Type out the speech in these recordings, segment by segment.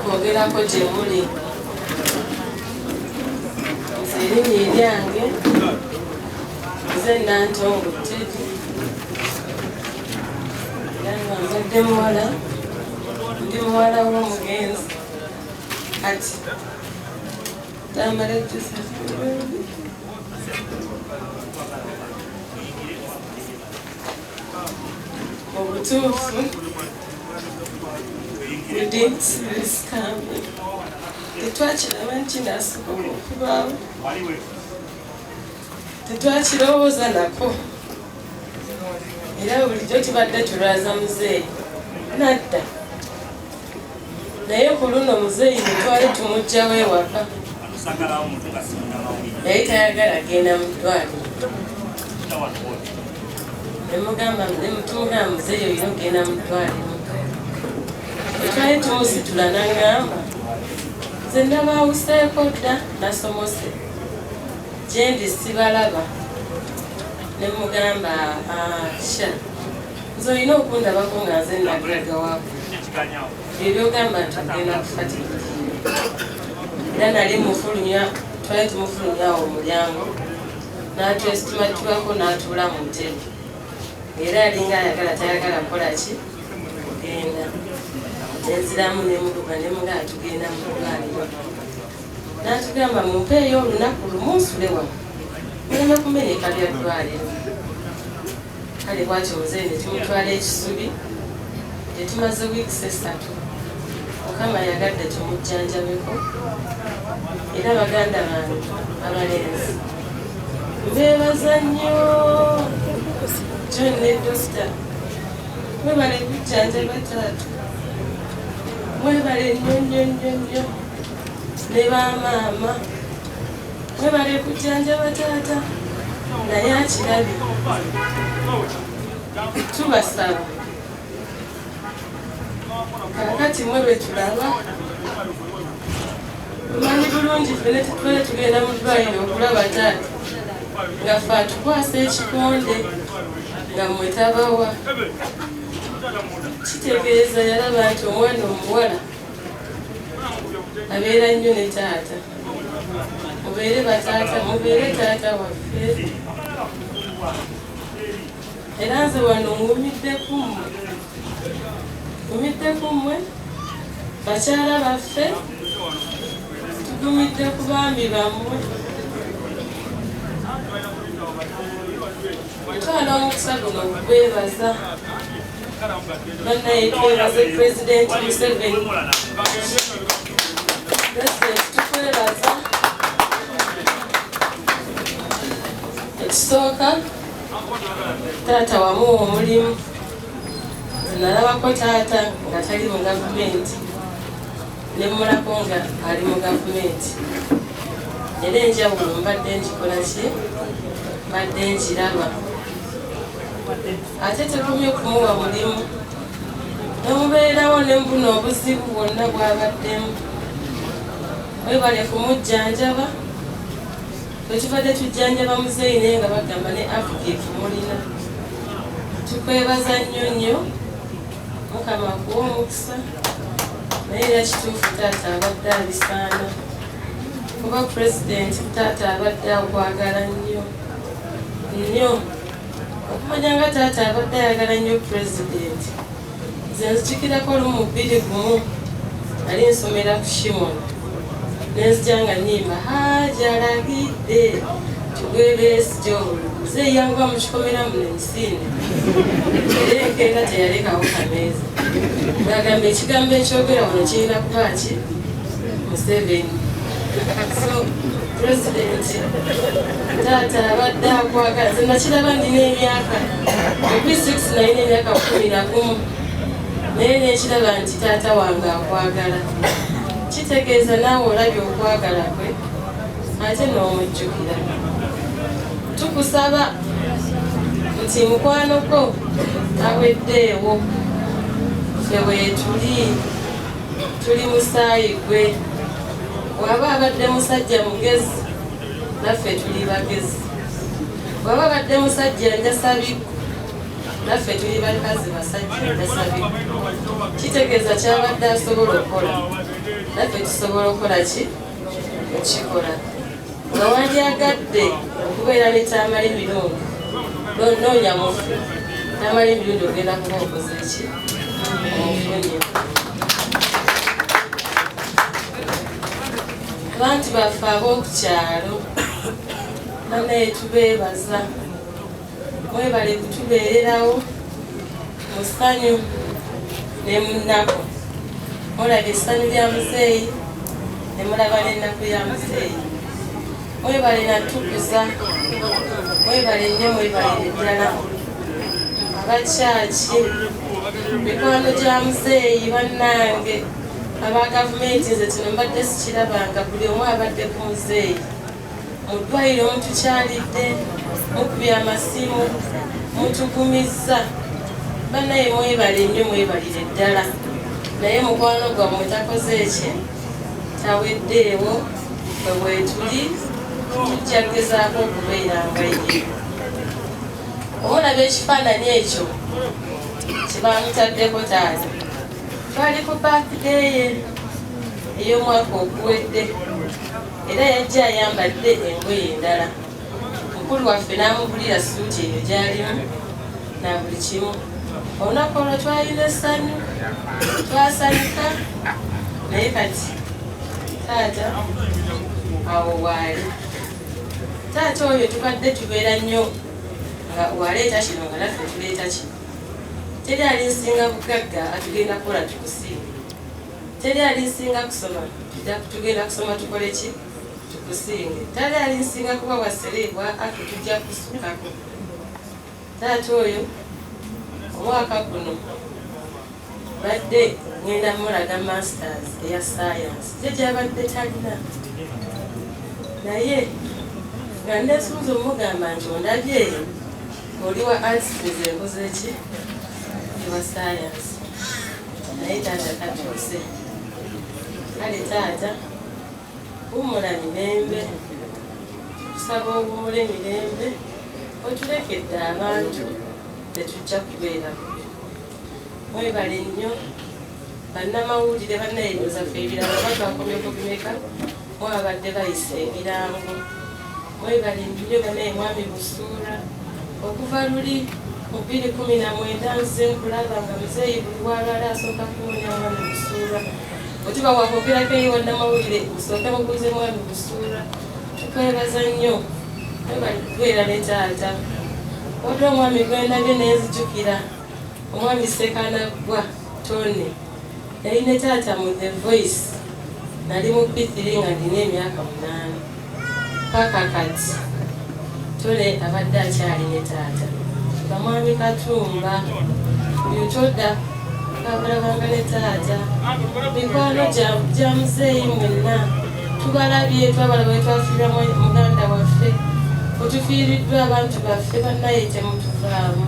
kwogerako gye muli nze erinnya eryange nze nantongo tedi era nga nzadde muwala ndi muwala w'omugenzi kati tamale tusa mu butuufu tetwakiraba nti nasobola okubaawo tetwakirowooza nako era bulijjo tubadde tulwaza muzeeyi nadda naye ku luno muzeeyi mutwale tumujjawo ewaka naye tayagala agenda mu ddwaliro nemugamba nemutunga muzeeyi olina okugenda mu ddwaliro etwali tumusitula nangamba nze nabawuseeko dda nasomose gyendi sibalaba nemugamba asha ah, nze olina okundabako nga nze nagulaga waku ebyogamba nti agenda kufatika era nali mufulumya twali tumufulumya awo omulyango natwesitimatibako natuula mu ntebe era alinga ayagala tayagala kukola ki kugenda nenziramu nemuduka nemuga atugenda mukugaaliwa natugamba mumpeeyo olunaku lumu nsule wano muleme kumeneka byaddwaliro kale bwatyo muzeeyi ne tumutwala ekisubi gye tumaze wiikisi essatu mukama yagadde tumujjanjabeko era baganda bange abalenzi mbeebaza nnyo john ne dokita mwebale kujjanjaba taata mwebale nnyo nnyo nnyo nnyo ne bamaama Webale kujjanjaba taata naye akirabi tubasaba kakati mwe lwetulaba omanyi bulungi fene tutwale tugenda mu ddwaliro okulaba taata nga fe atukwasa ekikonde nga mwe tabawa kitegeeza yalaba nti omwana omuwala abeera nnyo ne taata mubeere bataata mubeere taata waffe era nze wano ngumidde kummwe ngumidde kummwe bakyala baffe tugumidde ku baami bammwe twala omukisa guno gwebaza banaye twebaze president museveni president tukwebaza ekisooka taata wamuwa omulimu nalabako taata nga tali mu gavumenti nemulako nga ali mu gavumenti era enjawulo mbadde njikolaki mbadde njiraba ate tekumye kumuwa mulimu nemubeerawo nembuna obuzibu bwonna bwabaddemu webale kumujjanjaba twekibadde tujjanjaba muzeeyi naye nga bagamba ne afrika kimulina tukwebaza nnyo nnyo mukama kuwa omukisa naye era kituufu taata abadde abisaana kuba pulezidenti taata abadde akwagala nnyo nnyo okumanya nga taata abadde ayagala nnyo pulezidenti nze nzijukirako olumu mu bbiri gumu ali nsomera ku shimon nenzija nga nyimba hajalagidde tugwebeesija obuluze yanguba mu kikomera muno emisinde era enkeera teyalekawo kameeza ngagamba ekigambo ekyogera wano kirina kuba ki Museveni so pulezidenti taata abadde akwagala nze nakiraba ndina emyaka ebi 6 naye nemyaka kumi na gumu naye nekiraba nti taata wange akwagala kitegeeza naawe olabye okwagala kwe ate n'omujjukira tukusaba nti mukwano gwo aweddeewo ffe weetuli tuli musaayi gwe waba abadde musajja mugezi naffe tuli bagezi waba abadde musajja njasabikku naffe tuli bakazi basajja njasabikku kitegeeza kyabadde asobola okukola naffe tusobola okukola ki okikola nga wandyagadde okubeera ne tamale emirundi noonya mufu tamale emirundi ogenda kuba okoze ki omufunye abantu baffe ab'oku kyalo banaye tubeebaza Webale kutubeererawo mu ssanyu ne mu nnaku. Mulaba essanyu lya muzeeyi ne mulaba n'ennaku ya muzeeyi. Webale natukuza, webale nnyo, webale ddala abakyaki mikwano gya muzeeyi bannange aba gavumenti nze kino mbadde sikirabanga buli omu abadde ku muzeeyi mu ddwaliro mutukyalidde mukubye amasimu mutugumizza banaye mwebale nnyo mwebalire ddala naye mukwano gwammwe takoze ki taweddeewo bwe bwetuli tujja kugezaako okubeera nga ye omulaba ekifaananyi ekyo kyebamutaddeko taata twali ku bakideye ey'omwaka oguwedde era yajja ayambadde engoye endala mukulu waffe n'amubulira suuti eyo gyalimu na buli kimu olunaku olwo twalina essanyu twasanyuka naye kati taata awo waali taata oyo tubadde tubeera nnyo nga waleeta kino nga naffe tuleeta kino teri ali nsinga bugagga atugenda kukola tukusiima teri alinsinga kusoma tugenda kusoma tukole ki tukusinge tali alinsinga kuba wasereebwa ate tujja kusukako taata oyo omwaka guno badde ngenda mulaga masters eya science kye gyabadde talina naye nga ndesunza omugamba nti ondabyeyo oli wa ansizembuza eki ewa science naye taata katuuse kale taata wumula mirembe tusaba owumula emirembe otulekedde abantu tetujja kubeera bubi mwebale nnyo bannamawulire bannayingo zaffe ebirala batwakomyeko bimeka Bo babadde bayisa ebirango mwebali nnyo banaye mwami Busuura okuva luli mu bbiri kumi na mwenda nze nkulaba nga muzeeyi buli walwala asooka kuwunya mwami Busuura otiba wakwogerako eyo wannamawulire osooke mubuuze mwami Busuura tukwebaza nnyo mwebali kubeera ne taata waliwo omwami gwendabye nenzijukira omwami Ssekanaggwa Tony yali ne taata mu The Voice nali mu P3 nga ndina emyaka munaana paka kati Tony abadde akyali ne taata bamwami Katumba yutoda abalabanga ne taata mikwano gya muzeeyi mwenna tubalabye twabalaba wetwafirwa muganda waffe otufiiriddwa abantu baffe bannaye temutuvaamu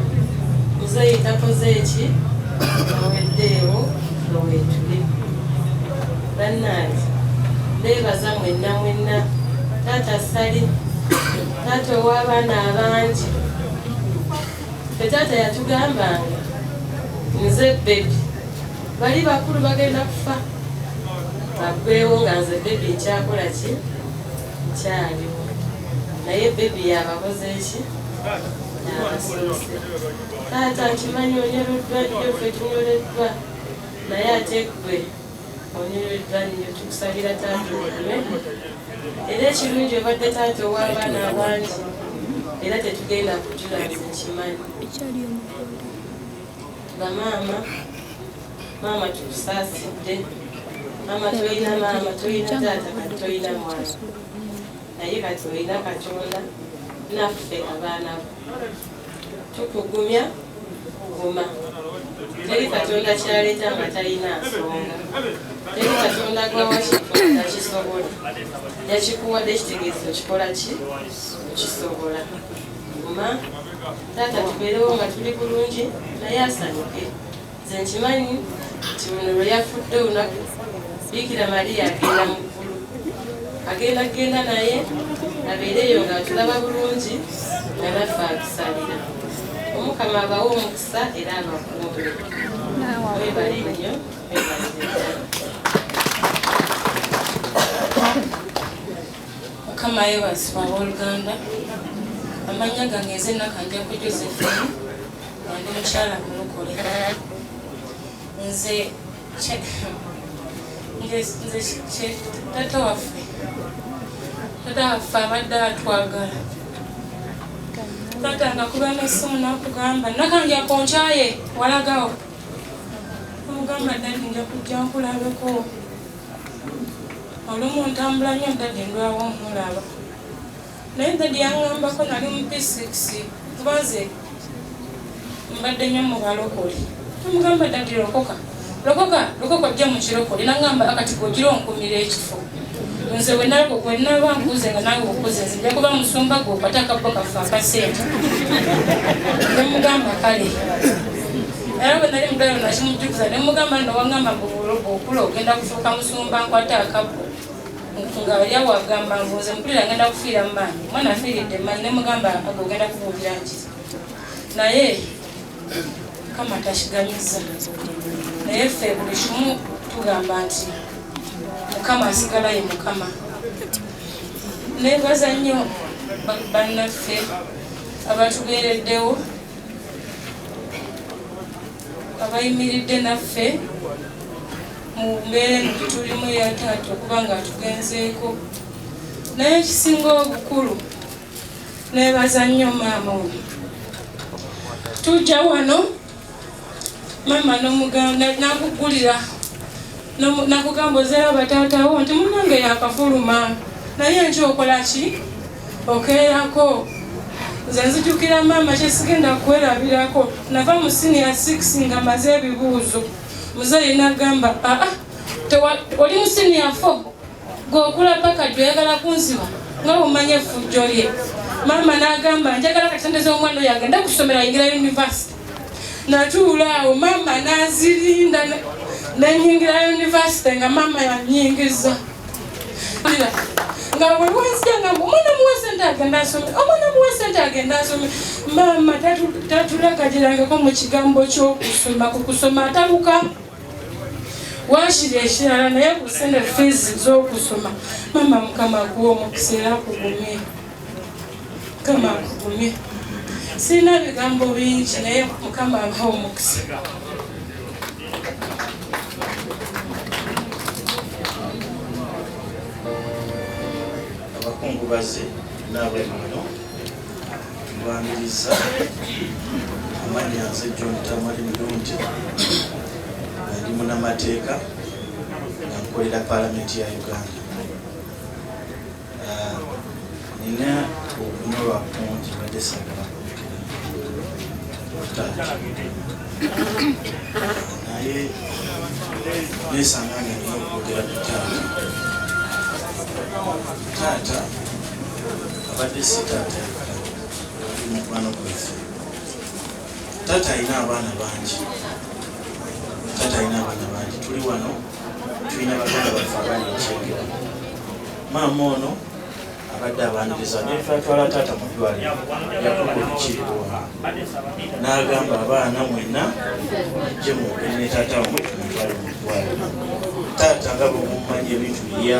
muzeeyi takoze eki aweddeewo lowetuli bannange beebaza mwenna mwenna taata sali taata ow'abaana abangi fe taata yatugambanga nze bebi bali bakulu bagenda kufa bagwewo nga nze bebi nkyakola ki nkyaliwo naye bebi yabakoze eki yabasose taata nkimanyi onyoleddwa nnyo fe tunyoleddwa naye ate gwe onyoleddwa nnyo tukusabira taata okume era ekirungi obadde taata ow'abaana abangi era tetugenda kujula nze nkimanyi bamaama maama tukusaasidde maama tolina maama tolina taata kati tolina mwana naye kati olina katonda naffe abaana bo tukugumya kuguma teri katonda kyaleeta nga talina nsonga teri katonda gwawakikola kisobola yakikuwadde ekitegeezo kikola ki okisobola guma taata tubeerewo nga tuli bulungi naye asanyuke nze nkimanyi nti ono lwe yafudde olunaku biikira mariya agenda mu ggulu agenda kugenda naye abeereyo nga atulaba bulungi nga naffe atusalira omukama abawe omukisa era abakuumbe webale nnyo webale mukama yebazibwa aboluganda amanya gange nze nakanjaku josephine andi mukyala mulokole nze nze tata waffe tata waffe abadde atwagala tata nga kuba nesimu nakugamba nakanja ku nkyaye walagawo omugamba dadi nja kujja nkulabeko olumu ntambula nyo dadi ndwawo nkulaba naye dadi yangambako nali mu p6 kuba nze mbadde nyo mubalokole amugamba dadi lokoka lokoka lokoka ojja mukirokole nangamba akati gogira onkumira ekifo nze wenalaba wenaba nkuze nga nawe okuze nze nja kuba musumba gwe okwata akabbo kaffe akasente nemugamba kale era bwe nali mugalo nakimujjukiza ne mugamba nno wangamba mbu okula ogenda kufuuka musumba nkwate akabu nga yali awagamba mbu nze mpulira ngenda kufiira mu maanyi omwana afiiridde maanyi ne mugamba aga ogenda kubuulira nki naye kama takigamiza naye ffe buli kimu tugamba nti mukama asigala ye mukama nebaza nnyo bannaffe abatubeereddewo abayimiridde naffe mu mbeera eno gyetulimu eyataata okuba nga atugenzeeko naye ekisinga obukulu nebaza nnyo maama oyo tujja wano mama nomugamba nakugulira nakugamba ozera batatawo nti munange yakafuluma naye nki okola ki okeerako nze nzijukira maama kyesigenda kwerabirako nava mu siniya 6 nga maze ebibuuzo muzeeyi nagamba aa ah, ah, oli mu siniya 4 gwe okula paka joyagala kunziwa nga bwemanya effujjo lye maama n'agamba njagala katendeza omwana oyo agenda ku ssomero ayingira yunivasite natuula awo maama n'azirinda nenyingira yunivasite nga maama yanyingiza nga wewanzija nga omwana muwa sente agenda asome omwana muwa sente agenda asome maama tatulagajirangako mu kigambo ky'okusoma ku kusoma ataluka wakiri ekirala naye ku sente fees z'okusoma mama mukama akuwa omukisa era kugumye mukama akugumye sirina bigambo bingi naye mukama abaha omukisa abakungubazi naabwe muno Mbangiriza amannya nze John Tamali Mulungi ndi munamateeka nga nkolera paalamenti ya Uganda. Ah, nina okunolwa kungi badde sagala naye nesanga nga nina okwogera ku taata taata abadde si taata ali mukwano gwaffe taata alina abaana bangi taata alina abaana bangi tuli wano tulina baganda baffe abali ekyengera maama ono abadde abaniriza nefatwala taata mu ddwaliro yakukukirirwa n'agamba abaana mwenna je mugende taata wamwe tumutwale mu ddwaliro taata nga bwemumanya ebintu bya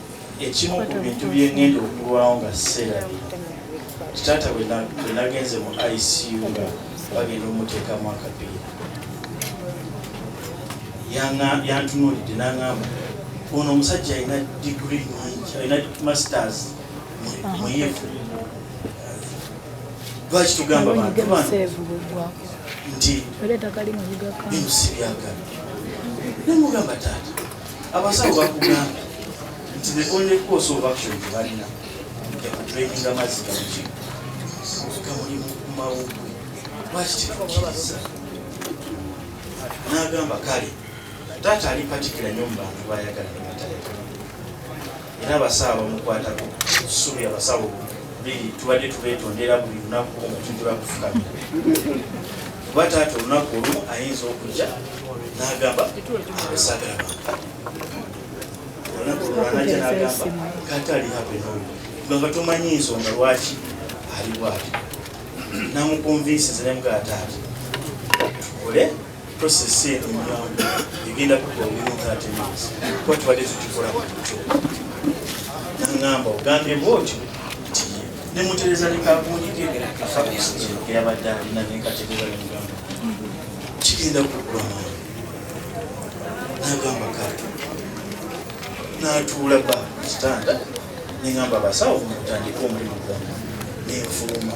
ekimu ku bintu bye ŋŋenda okulwawo nga sseerabira kitaata bwe nagenze mu icu nga bagenda omuteekamu akapiira yantunuulidde n'aŋamba ono omusajja alina digiri nyingi alina masters muyivu lwaki tugamba bantu bano nti bino si byagala namugamba taata abasawo bakugambye nti the only course of action tebalina yakutraininga amazzi gamuki gamuli mumawugwe lwaki tetukiriza n'agamba kale taata ali patikira nyo mu bantu bayagala era abasawo bamukwatako tusuubira abasawo biri tubadde tubetondera buli lunaku nga tujula kufukamira kuba taata olunaku olumu ayinza okujja n'agamba abasagala olunaku olwanajja n'agamba kata ali hapenoli nga tomanyi nsonga lwaki ali bwati namukonvinsi zinemugataati tukole Process eno nyangu egenda kukola within 30 minutes kuba tubadde tukikola kutyo nangamba ogambye bwotyo nemutereza nekakunyike eyabadde alina nekatereza nemugamba kigenda kugula mwana nagamba kale natuula ba kitanda nengamba abasawo mutandika omulimu gwange nenfuluma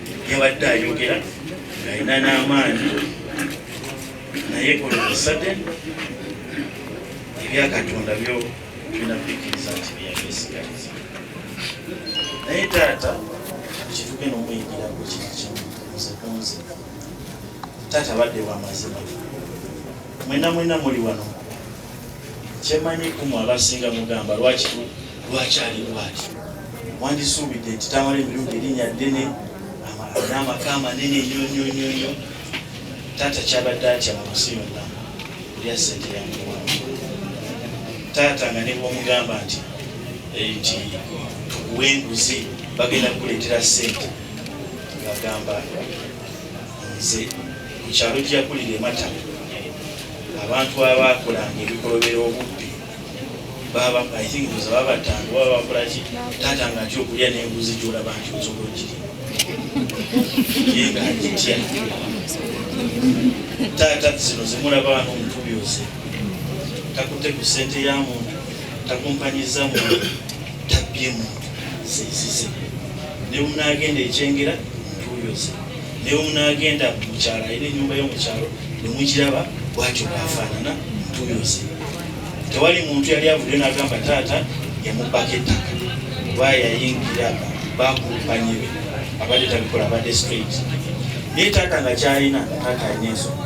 yabadde ayogera alina n'amaanyi naye olwomusade ebyakatonda byo tulina kubikkiriza nti byagesigaliza naye taata kituke nomuyingira ku kiri kimu nze kunze taata badde wamazima mwena mwena muli wano kyemanyi kumwe abasinga mugamba lwaki lwaki ali bwati wandisuubidde nti tamala emirundi erinnya ddene n'amaka amanene nyonyonyonyo taata kyabadde atya mu nsi yonna olya sente yamuwa taata nga nebwomugamba nti eh, nti tukuwa enguzi bagenda kukuleetera sente ngagamba nze ku kyalo gyakulira ematala abantu abakolanga ebikolobera obubbi baba i think buza babatanga baba bakola ki taata nga atya okulya n'embuzi gyolaba nti osobola okiri ye nga agitya taata zino zimulaba wano omutubi oze takutte ku ssente ya muntu takumpanyiza muntu tabbye muntu zenzize ne bwemunaagenda ekyengera ntuuyoze ne bwemunaagenda mukyalo ayina enyumba yo mukyalo ne mugiraba bwatyo bwafaanana ntuuyoze tewali muntu yali avuddeyo n'agamba taata yamubbako ettaka oba yayingira bakumpanye be abadde tabikola abadde straight naye taata nga kyalina taata alina ensonga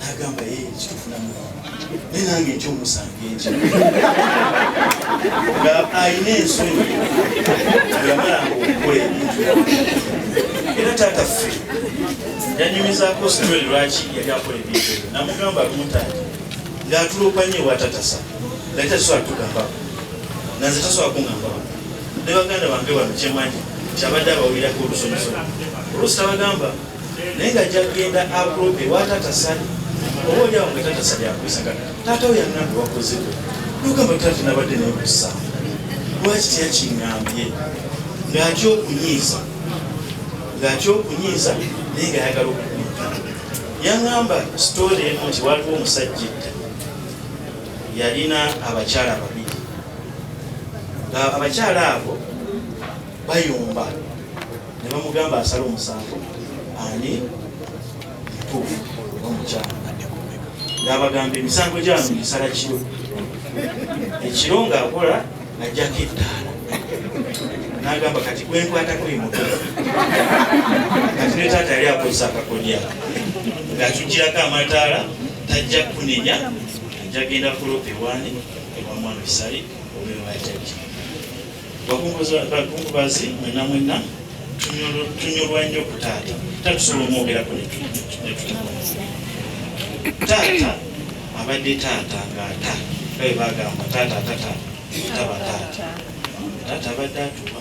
nagamba ye kitufunamu ne nange ekyomusango ekyo nga alina ensonyi yamalanga okukola ebintu era taata ffe yanyumizako sitole lwaki yali akola ebintu ebyo namugamba lumuntangi ngaatulopanye watatasa nali tasobola tugambako naze tasobola kungambako ne baganda bange bano kyemanyi kyabadde abawulirako olusomesa olusi tabagamba naye nga jagenda aprope watata sali oba olyawo nga tata sali akuisagana taata we yanambi wakozeko nogamba tata nabadde naye kusa lwaki teyakingambye ngaatya okunyiiza ngaatya okunyiiza naye nga ayagala okukuika yangamba sitore emu nti waliwo omusajja edda yalina abakyala babiri abakyala abo bayomba ne bamugamba asala omusango ani mutuufu oba mukyala ng'abagamba emisango gyano gisala kiro ekiro ng'akola najjako ettaala nagamba kati gwenkwatako emuto kati ne taata yali akozesa akakolya ng'atugirako amataala tajja kunenya ajja genda kulopa ewaani ewa mwana esale obeera wajajja bakungubazi mwena mwena tunyolwa nnyo ku taata taata tusobola omwogerako taata abadde taata ngaata babe bagamba taata tata taba taata taata abadde atuba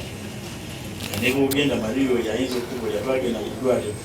nebwogenda maliyo yayinza okukubulira twagenda mu ddwaliro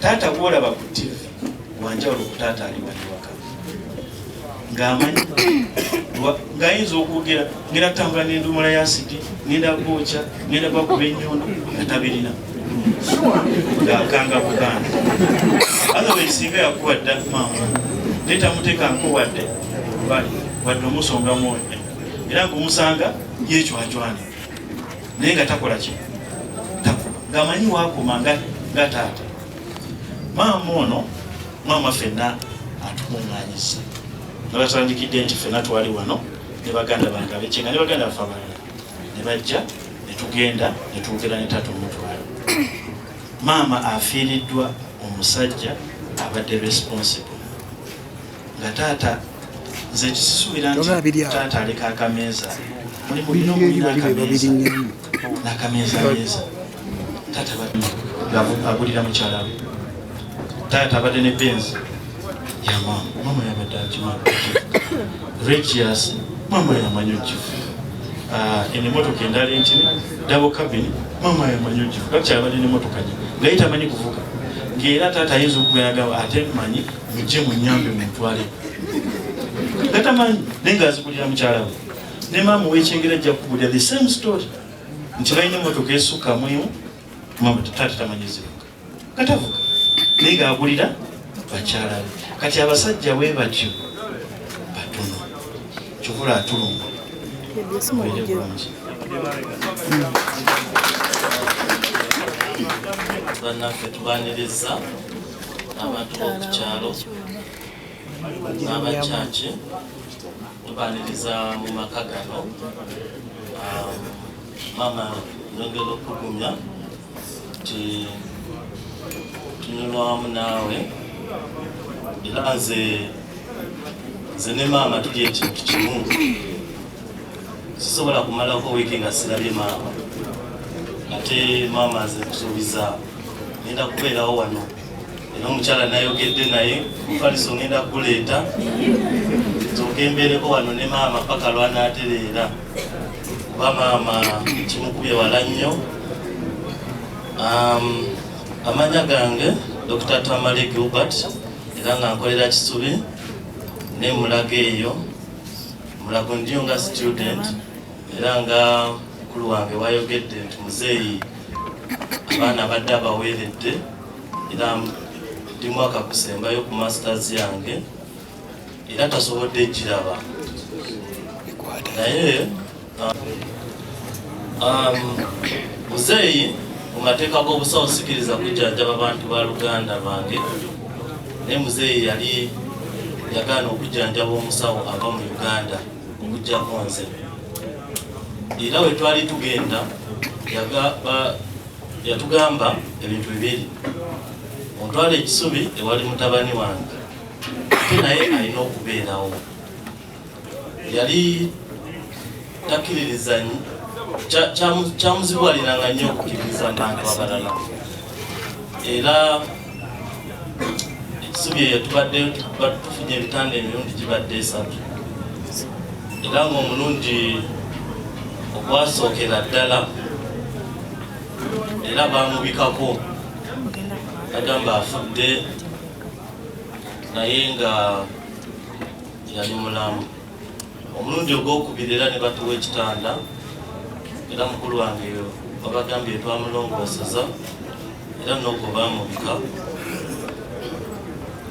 taata gwolaba ku tv wanjawulo ku taata ali wali waka ng'amanyi ng'ayinza okwogera ngenda tambula n'endumula ya sidi ngenda gwokya ngenda gwakuba enyondo nga tabirina ng'akanga buganda otherwise singa yakuba dda maama naye tamutekanko wadde wadde omusonga mwoyo era ng'omusanga yecwacwana naye nga takola ki ngamanyi wakoma nga taata maama ono maama fenna atukunganyiza nabatandikidde nti fenna twali wano ne baganda bange abekinga ne baganda bafe abalala ne bajja ne tugenda ne twogera ne taata omutwalo maama afiiriddwa omusajja abadde responsible nga taata nze kisisuubira nti taata aleka akameeza mulimu bino mulina akameeza n'akameeza meeza taata agulira mukyala we taata abadde ne benzi yamama mama yabadde akima regias mama yamanyi okifu ah, eno emotoka endala entini dabo kabini mama yamanyi okifu kakyabadde nemotoka nye ngaye tamanyi kuvuga ngaera taata ayinza okugayagawo ate manyi mujje munyambe mutwale gatamanyi naye nga azikulira mukyala we ne maama owekyengera ajja kukubulira the same story nti balina emotoka esukka muimu mama taata tamanyizibuka gatavuga naye nga agulira bakyala be kati abasajja we batyo batono kyovula atulunga bannaffe tubaniriza abantu b'oku kyalo n'abakyaki tubaniriza mu maka gano um, maama nongera okugumya nti tunyulwamu naawe era nze nze ne maama tuli ekintu kimu sisobola kumalako wiiki nga sirabye maama ate maama aze kusuubiza ngenda kubeerawo wano era omukyala nayogedde naye mufaliso ngenda kuguleeta nzoke mbeereko wano ne maama paka lwanaatereera kuba maama kimukubye wala nnyo um, amanya gange dr tamale gilbert era nga nkolera kisubi nemulaga eyo Mulago ndiyo nga student era nga mukulu wange wayogedde nti muzeeyi abaana badde abaweeredde era ndi mwaka kusembayo ku masters yange era tasobodde ekiraba naye um, um, muzeeyi mu mateeka g'obusawo sikiriza kujjanjaba bantu ba luganda lwange naye muzeeyi yali yagaana okujjanjaba omusawo ava mu uganda okujjako nze era we twali tugenda yatugamba ebintu bibiri ontwala ekisubi ewali mutabani wange ate naye alina okubeerawo yali takiririzanyi kyamuzibwaliranga nnyo okukiririza abantu abalala era ekisubi eyo tubadde tufunye ebitanda emirundi gibadde esatu era ngaomulundi ogwasookera ddala era bamubikako agamba afudde naye nga yali mulamu omulundi ogwokubiri era ne batuwa ekitanda era mukulu wange babagambye twamulongooseza era noogwo baamubika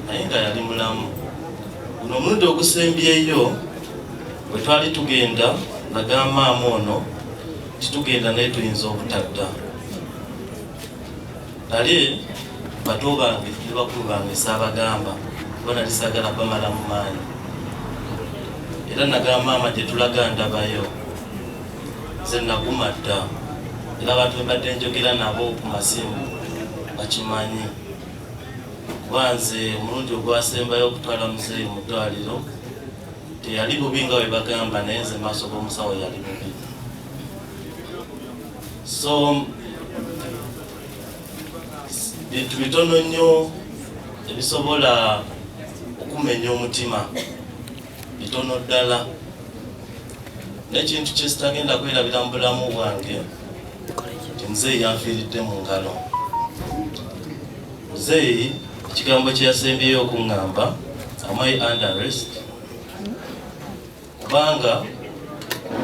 naye nga yali mulamu guno omulundi ogusembyeyo bwe twali tugenda nagaamaamu ono titugenda naye tuyinza obutadda Nali bato bange ne bakulu bange saabagamba kuba nali saagala bamalamu maanyi era nagamba maama gye tulaga ndabayo nze naguma dda era abantu bebadde njogera nabo ku masimu bakimanyi kuba nze omulundi ogwasembayo okutwala muzeeyi mu ddwaliro teyali bubi nga webagamba naye nze maaso g'omusawo yali bubi so bintu bitono nnyo ebisobola okumenya omutima bitono ddala n'ekintu kyesitagenda kwerabira mu bulamu bwange nti muzeeyi yanfiiridde mu ngalo muzeeyi ekigambo kyeyasembyeyo okuŋŋamba amai underest kubanga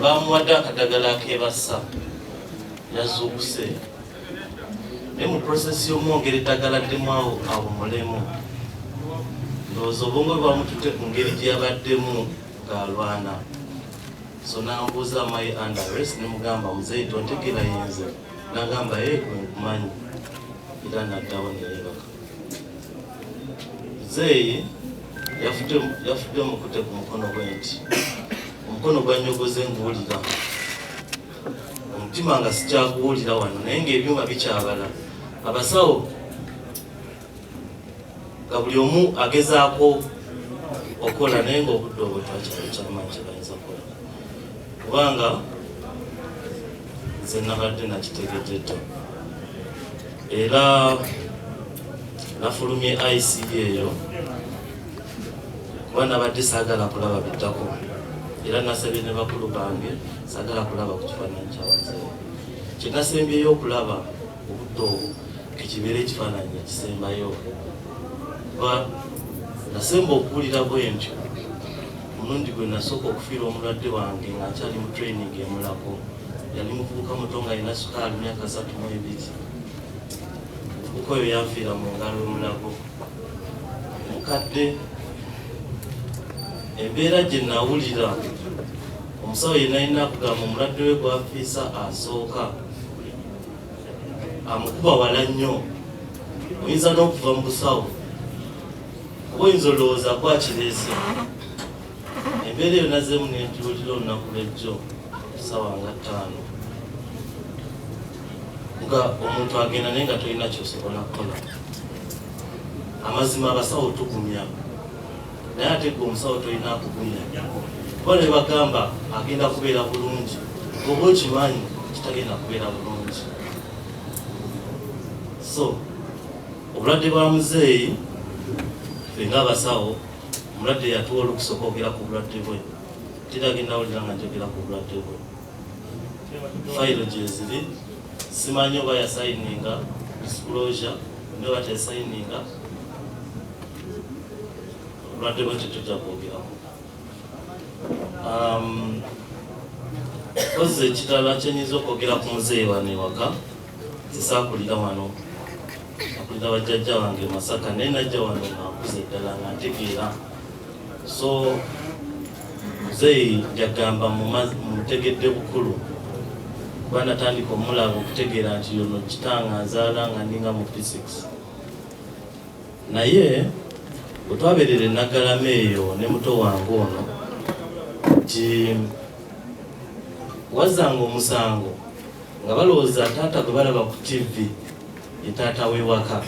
bamuwadde akadagala akebassa yazuukuse naye mu prosesi y'omwongera eddagala ddemu awo awumulemu ndowooza obwongo bwamutute ku ngeri gye yabaddemu ng'alwana so nambuuza my underes ne mugamba muzeeyi tontegera yenze nagamba ye eh, gwe nkumanyi era naddawo neyebaka Zeyi yafudde mukute ku mukono gwe nti omukono gwanyogoze nguwulira omutima nga sikyaguwulira wano naye ngaebyuma bikyabala abasawo nga buli omu agezaako okukola naye ngaobudde obwetwakyalo kyamanyi kyebayinza kukola kubanga nze nabadde nakitegededda era nafulumye ICB eyo kuba nabadde saagala kulaba biddako era nasabye ne bakulu bange saagala kulaba ku kifaananyi kyabazeewo kyenasembyeyo okulaba obudde obwo ekibeera ekifaananyi ekisembayo kuba nasemba okuwulira bwentyo Omulundi gwe nasooka okufiira omulwadde wange nga nkyali mu training e Mulago yali muvubuka muto nga alina sukaali myaka satu mu ebiri. Muvubuka oyo yanfiira mu ngalo e Mulago. Omukadde embeera gye nawulira omusawo ye nalina kugamba omulwadde we gwafiisa asooka amukuba wala nnyo oyinza n'okuva mu busawo Oyinza olowooza ku akireese embeera eyo nazeemu nenjiwulira olunaku lwejjo sawa nga ttaano nga omuntu agenda naye nga tolina kyosobola kukola amazima abasawo tugumya naye ate gwe omusawo tolina akugumya kuba ne bagamba agenda kubeera bulungi oba okimanyi kitagenda kubeera bulungi so Obulwadde bwa muzeeyi ffe ng'abasawo omulwadde yatuwa olukusa okwogera ku bulwadde bwe tirage nawulira nga njogera ku bulwadde bwe fayiro gyeziri simanyi oba yasayininga disclosure ne oba teyasayininga obulwadde bwe tetujja kwogeramu um, kozi ekirala kyenyinza okwogera ku muzeeyi wano ewaka sisakulira wano nakulira bajjajja wange masaka naye najja wano nakuza eddala nga ntegeera so muzeeyi njagamba mutegedde bukulu kuba natandika omulaba okutegeera nti yono kitanga nzaala nga ninga mu physics naye bwetwaberera enagalama eyo ne muto wange ono nti wazanga omusango nga balowooza taata gwe balaba ku ttivi ye taata w'ewaka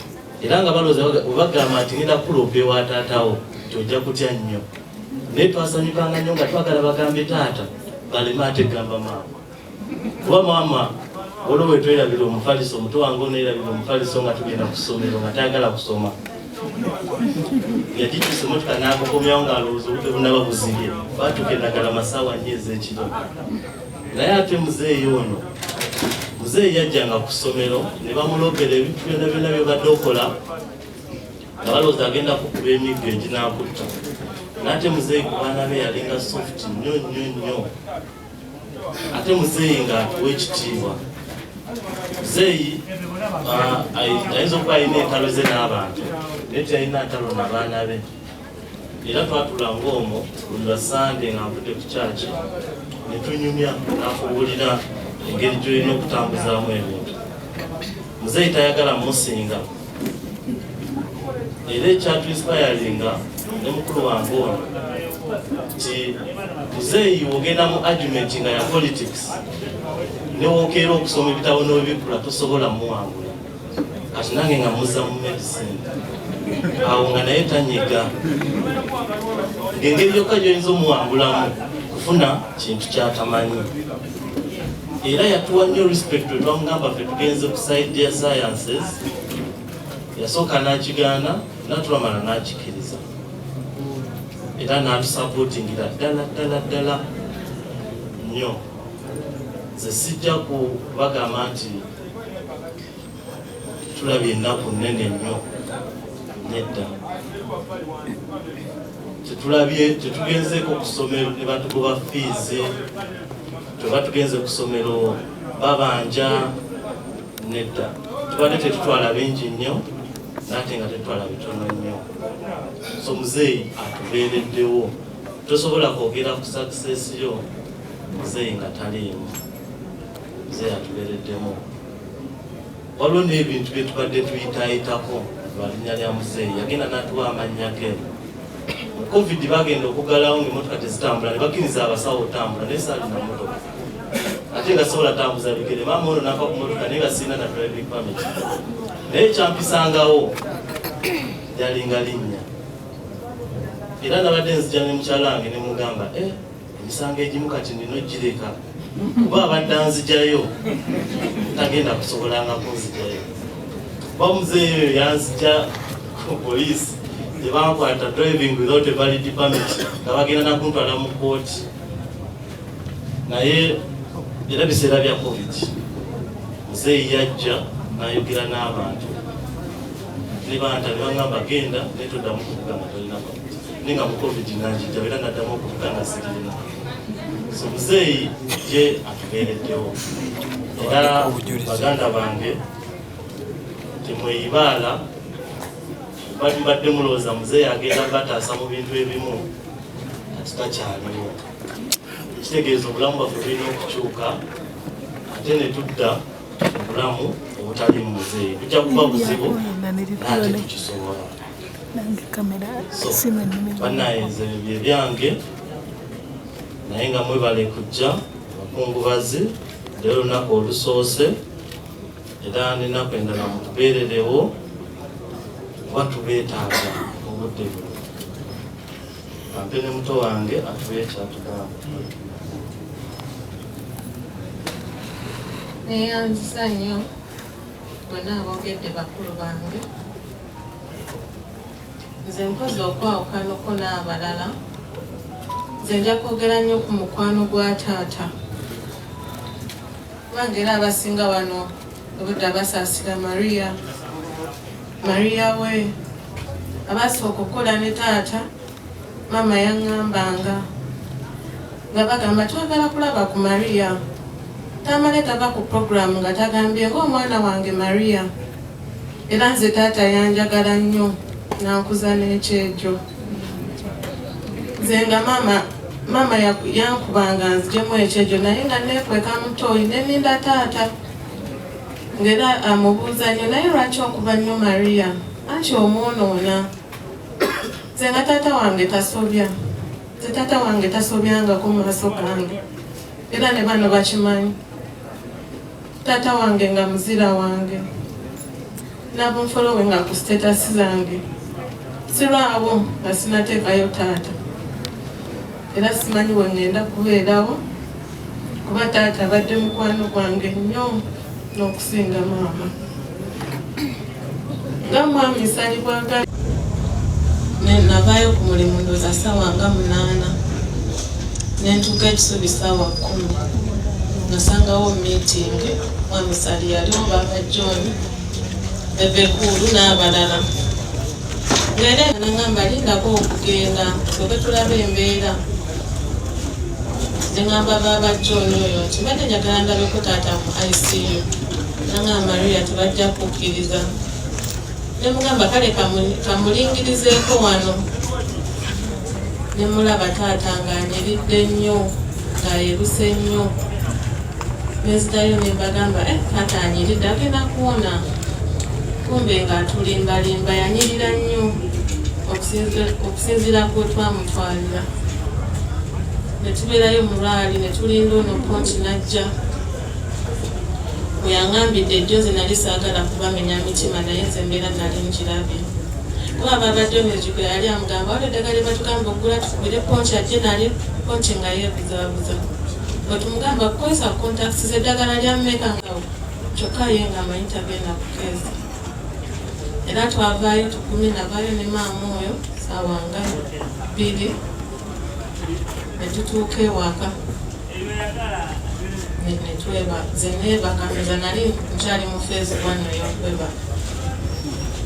era nga balowooza bwe bagamba nti ngenda kuloopa ewa taatawo nti ojja kutya nnyo naye twasanyukanga nnyo nga twagala bagambe taata baleme ate gamba maama kuba maama olwo bwe twerabira omufaliso omuto wange onerabira omufaliso nga tugenda ku ssomero nga tayagala kusoma yagitusa emotoka n'akukomyawo ng'alowooza obudde bunaba buzibye baatuka endagala masaawa nnyo ez'ekiro naye ate muzeeyi ono muzeeyi yajjanga ku ssomero ne bamulobera ebintu byona byona byebadde okola nga balowooza agenda kukuba emiggo eginakutta naate muzeeyi ku baana be yalinga soft nnyo nnyo nnyo ate muzeeyi nga atuwa ekitiibwa muzeeyi ah, ayinza okuba alina entalo ze n'abantu naye teyalina ntalo nabaana be era twatula ng'omo buli lwa sande nga nvudde ku kyaki ne tunyumya nakubuulira engeri gyolina okutambuzaamu ebintu muzeeyi tayagala musinga era ekyatuinsipayalinga ne mukulu wange ono nti muzeeyi wogenda mu argument nga ya politics newokeera okusoma ebitabo n'obikkula tosobola muwangula kati nange nga muza mu medicine awo nga naye tanyiga ngengeri yokka gyoyinza omuwangulamu kufuna kintu kyatamanyi era yatuwa nnyo respect wetwamugamba fe tugenze ku side ya sciences yasooka nakigaana natulamala nakikiriza era natusapotingira ddala ddala ddala nnyo ze sijja kubagamba nti tulabye ennaku nnene nnyo nedda tetulabye tetugenzeko kusomero nebatugoba fiizi tuba tugenze kusomero babanja nedda tubadde tetutwala bingi nnyo nate nga tetwala bitono nnyo so muzeeyi atubeereddewo tosobola kwogera ku sakisesi yo muzeeyi nga taliimu Mzee atubereddemu waliwo n'ebintu bye tubadde tuyitaayitako lwa linnya lya muzeeyi yagenda n'atuwa amannya ge mu covid bagenda okugalawo ng'emotoka tezitambula ne bakkiriza abasawo otambula naye saalina motoka ate nga sobola tambuza bigere maama ono nava ku motoka naye nga sirina na driving permit naye kyampisangawo yalinga linnya era nabadde nzija ne mukyalange ne mugamba eh, emisango egimu kati nina ogireka kuba abadde anzijayo tagenda kusobolanga kunzijayo kuba muzeeyi oyo yanzija ku poliisi tebankwata driving without a valid permit nga bagenda nakuntwala mu kooti naye era biseera bya covid muzeeyi yajja nayogera n'abantu ne banta ne bagamba genda naye toddamu kuvugana tolina naye nga mukovi ginanjijjawo era naddamu okuvuga nga sirina so muzeeyi ye atubeereddewo era baganda bange temweyibaala mbadde mulowooza muzeeyi agenda bataasa mu bintu ebimu ati takyaliwo ekitegeeza obulamu bwaffe bulina okukyuka ate ne tudda obulamu obutali mu muzeeyi tujja kuba buzibu naate tukisobola byange naye nga mwebale kujja abakungubazi leero lunaku olusoose era nenaku endala mutubeererewo kuba tubeetaaga obudde buno ampe ne muto wange atubeekyatugamba neyanzisa nnyo bonna aboogedde bakulu bange nze mpozi okwawukanako n'abalala nze nja kwogera nnyo ku mukwano gwa taata kubanga era abasinga wano obudda basaasira maria maria we abaasooka okukola ne taata Maama yaŋŋambanga nga bagamba twagala kulaba ku Maria. Tamale tava ku pulogulaamu nga tagambye ng'omwana wange Maria. Era nze taata yanjagala nnyo n'ankuza n'ekyejo. Nze nga maama maama yankubanga nzijemu ekyejo naye nga neekweka mutooyi ne ninda taata ng'era amubuuza nnyo naye lwaki okuba nnyo Maria anti omwonoona. nze nga taata wange tasobya nze taata wange tasobyangako mu maaso gange era ne bano bakimanyi taata wange nga muzira wange nabunfolowe nga ku sitetasi zange sirwawo nga sinateekayo taata era simanyi we ŋŋenda kubeerawo kuba taata abadde mukwano gwange nnyo n'okusinga maama nga mwami salibwaga navaayo ku mulimu ndoza saawa nga munaana nentuuka ekisubi saawa kkumi nasangawo miitingi mwami sali yaliwo baaba john ebekuulu n'abalala era nangamba lindako okugenda soke tulaba embeera nengamba baaba john oyo nti mbadde njagala ndabeko taata mu icu nangamba luya tebajja kukkiriza nemugamba kale kamulingirizeeko wano nemulaba taata nga anyiridde nnyo ng'ayeruse nnyo Nezidayo nembagamba eh, kata anyiride agenda kuwona kumbe nga atulimbalimba yanyirira nnyo okusinziira ku twamutwalira netubeerayo mulwali netulinda ono ponti najja weyangambidde ejozi nali saagala kubamenya mitima naye nze mbeera nali nkirabye kuba babadde omuzigo yali amugamba wali eddagala lyebatugambe okugula tukubire ponti ajje nali ponti nga yebuzabuza nga tumugamba kukozesa contacts z'eddagala lya meka ngawo kyokka ye nga amanyi tagenda kukeeza era twavaayo tukumi navayo ne maama oyo saawa nga bbiri ne tutuuka ewaka netweba zenebaka nza nali nkyali mu feezi wano yokwebaka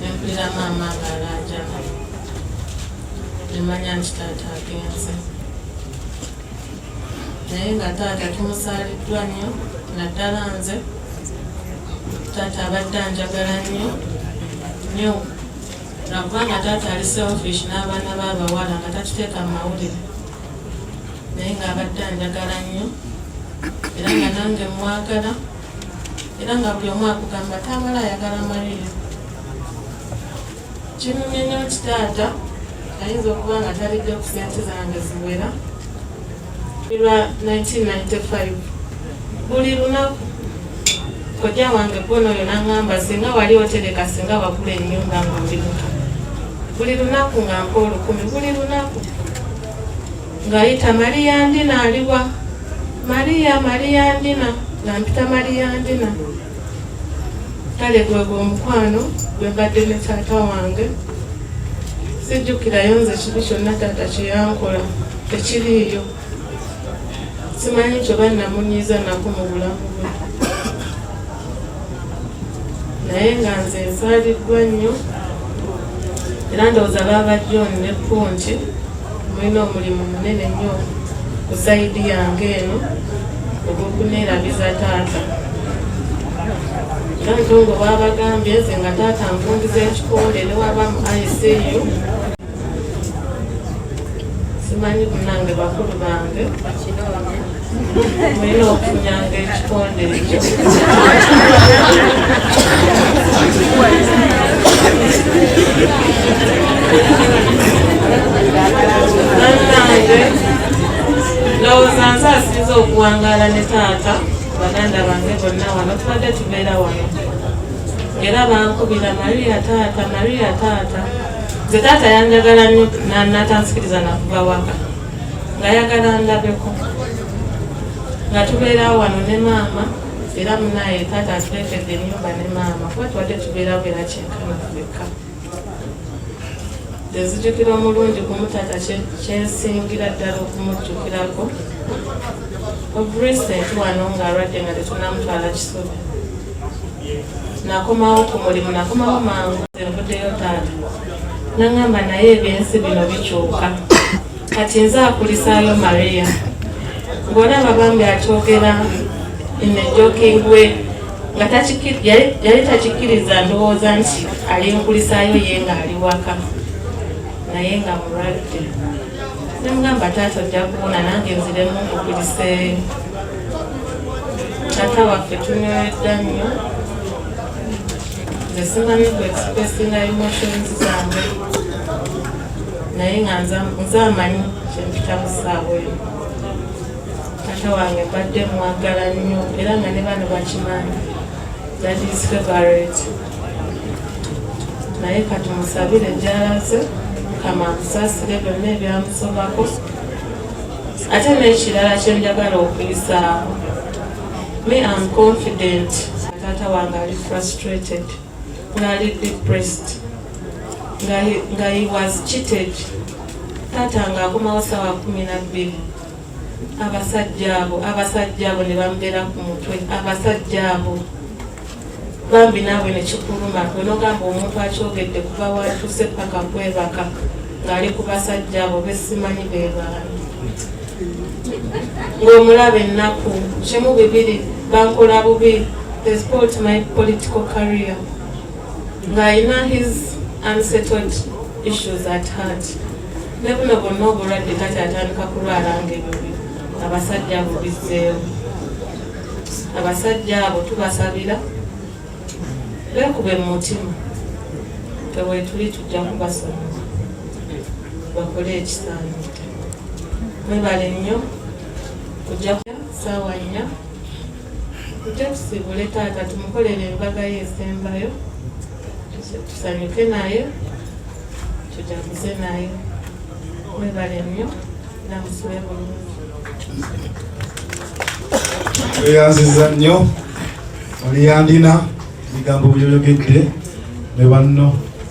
nempulira maama nga alajana nemanya nti taata agenze naye nga taata tumusaaliddwa nnyo naddala nze taata abadde anjagala nnyo nnyo nakuba nga taata ali selfish n'abaana b'abawala nga takiteeka mu mawulire naye ng'abadde anjagala nnyo era nga nange mwagala era nga buli omu akugamba taabala ayagala malire Kinyumye nnyo nti taata ayinza okuba nga talidde ku sente zange ziwera lwa 1995 buli lunaku kojja wange bwono oyo nangamba singa wali otereka singa wakula enyumba nga oli muto buli lunaku nga mpa olukumi buli lunaku ngayita mariya ndina aliwa mariya mariya ndina nga mpita mariya ndina kale gwegwo omukwano gwe mbadde ne taata wange sijjukirayo nze kibi kyonna taata kyeyankola tekiriiyo simanyi kyoba namunyiiza nako mu bulamu bwe naye nga nze nsaaliddwa nnyo era ndowooza baaba joni ne punti Mulina omulimu munene nnyo ku sayidi yange eno ogw'okuneerabiza taata nange nga waabagambye nze nga taata nkundiza ekikole ne waba mu icu simanyi kunange bakulu bange Mwena okunyanga ekitonde ekyo. Bannange ndowooza nze asinze okuwangaala ne taata baganda bange bonna wano tubadde tubeera wano era bankubira maria taata maria taata nze taata yanjagala nnyo natansikiriza nakuba waka ngayagala ndabeko nga tubeerawo wano ne maama era munaye taata atuleetedde enyumba ne maama kuba tubadde tubeerawo era kyenkana kubekka ezijukira omulungi kumutaata kyensingira ddala okumujjukirako obrecent wano nga alwadde nga tetunamutwala kisubi nakomawo ku mulimu nakomawo mangu envudeyo taata nangamba naye ebyensi bino bikyuka kati nze akulisaayo maria ng'olaba bambi akyogera inejokingwe nga yali takikkiriza ndowooza nti ali nkulisaayo ye ng'ali waka naye nga mulwadde nemugamba taata ojja kuwona nange nziremu nkukuliseeyo taata waffe tunywedda nnyo nze simanyi ku expressinga emotions zange naye nga nze amanyi kyempita mu ssaawa eyo taata wange mbadde mwagala nnyo era nga ne bano bakimanyi that is favorite naye kati musabire gyalaze mukama amusaasire byonna ebyamusobako ate n'ekirala kyenjagala okuyisaamu Me am confident taata wange ali frustrated ngaali depressed nga he was cheated taata nga akomawo sawa kumi nabbiri abasajja abo abasajja abo ne bamubeera ku mutwe abasajja abo bambi naawe nekikuluma wenogamba omuntu akyogedde kuva watuuse paka kwebaka ngaali ku basajja abo besimanyi bebaani ngaomulaba ennaku kimu bibiri bankola bubi thesport my political career ng'alina his unsettled issues at heart ne buno bonna obulwadde kati atandika kulwala ngaebibi abasajja bubizzeewo abasajja abo tubasabira bekube mu mutima tewetuli tujja kubasoma bakole ekisaani mwebale nnyo kujja saawa nnya tujja tusibule taata tumukolere embaga ye esembayo tusanyuke naye tujaguze naye mwebale nnyo namusube bulungi tweyanziza nnyo oliyandina ebigambo byoyogedde ne banno